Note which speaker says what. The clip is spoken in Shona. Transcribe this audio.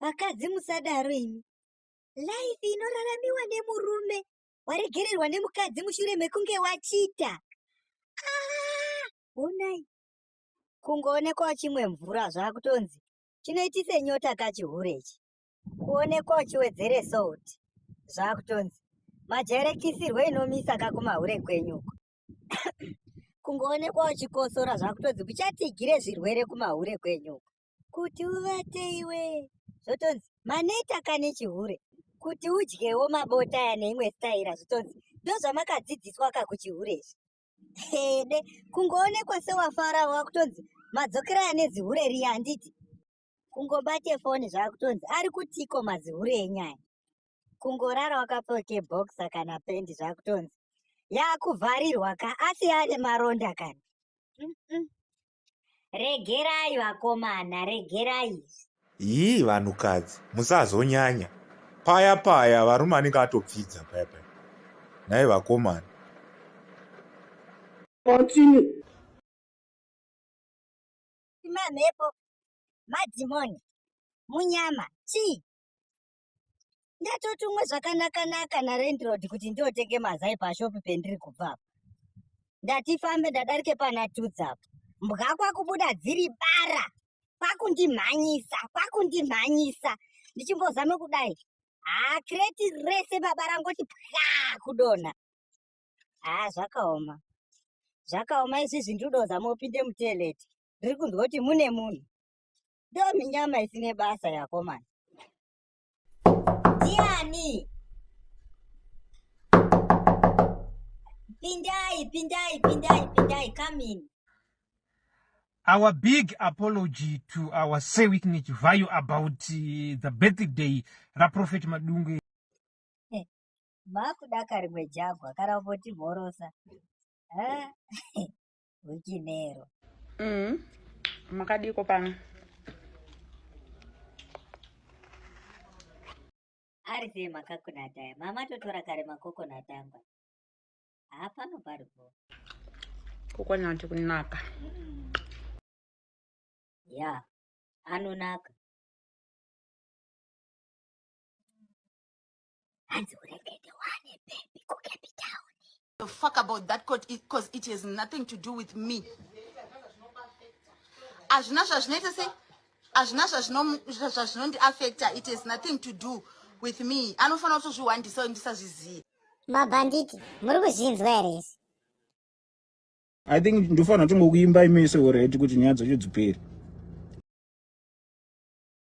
Speaker 1: Vakadzi musadaro imi. Life inoraramiwa nemurume waregererwa nemukadzi mushure mekunge wachita. Ah, honai. Kungoonekwa chimwe mvura zvakutonzi chinoitise nyota kachihure ichi. Kuonekwa uchiwedzere salt zvakutonzi majerekisirwe inomisa kakumahure kwenyu uko. Kungoonekwa uchikosora zvakutonzi kuchatigire zvirwere kumahure kwenyu uko. kuti uvate iwe zvotonzi maneta kane chihure kuti udyewo mabota aya neimwe staira zvitonzi ndozvamakadzidziswa ka kuchihure izvi hede kungoonekwa sewafara wakutonzi madzokera ane zihure riya handiti kungobate foni zvakutonzi ari kutiko mazihure enyaya kungorara wakapfeke boksa kana pendi zvakutonzi yakuvharirwa ka asi ane maronda kana mm -mm. regerai vakomana regerai izvi yii
Speaker 2: vanhukadzi musazonyanya paya paya varume anenge atopfidza paya paya nhai vakomana
Speaker 3: continue
Speaker 1: mamhepo madhimoni munyama chii ndatotumwe zvakanakanaka narendrod kuti ndiotenge mazai pashopi pendiri kubva apa ndatifambe ndadarike pana tudzi apa mbwa kwakubuda dziri bara kwakundimhanyisa kwakundimhanyisa ndichimbozame kudai haa kreti rese baba rangoti pwa kudonha haa zvakaoma zvakaoma izvizvi ndiri kudozama upinde muteleti ndiri kunzwa kuti mune munhu Doni nyama isine basa yakomana. Ndiani? Pindai, pindai, pindai, pindai, come in.
Speaker 4: Our big apology to our Sir Wickney Chivayo about uh, the birthday raProphet Madungwe. Eh,
Speaker 1: Makudaka rimwe jagwa kana umbotibhorosa. Eh? muchimero mm.
Speaker 3: makadiko pano
Speaker 1: ari sei makakonati aya mama totora kare makokonati angwa haa pano pari po
Speaker 3: kokonati kunaka
Speaker 1: ya anonaka hanzi uregede wane bhebhi kucape town
Speaker 5: the fuck about that court because it has nothing to do with me hazvina zvazvinoita sei hazvina zvazvinondiafecta it has nothing to do with me anofanira kutozvihwandisa ndisazvizive mabhanditi
Speaker 1: muri kuzvinzwa here izvi
Speaker 3: i think ndofanira tongokuimba imese oredi kuti nyaya dzacho dziperi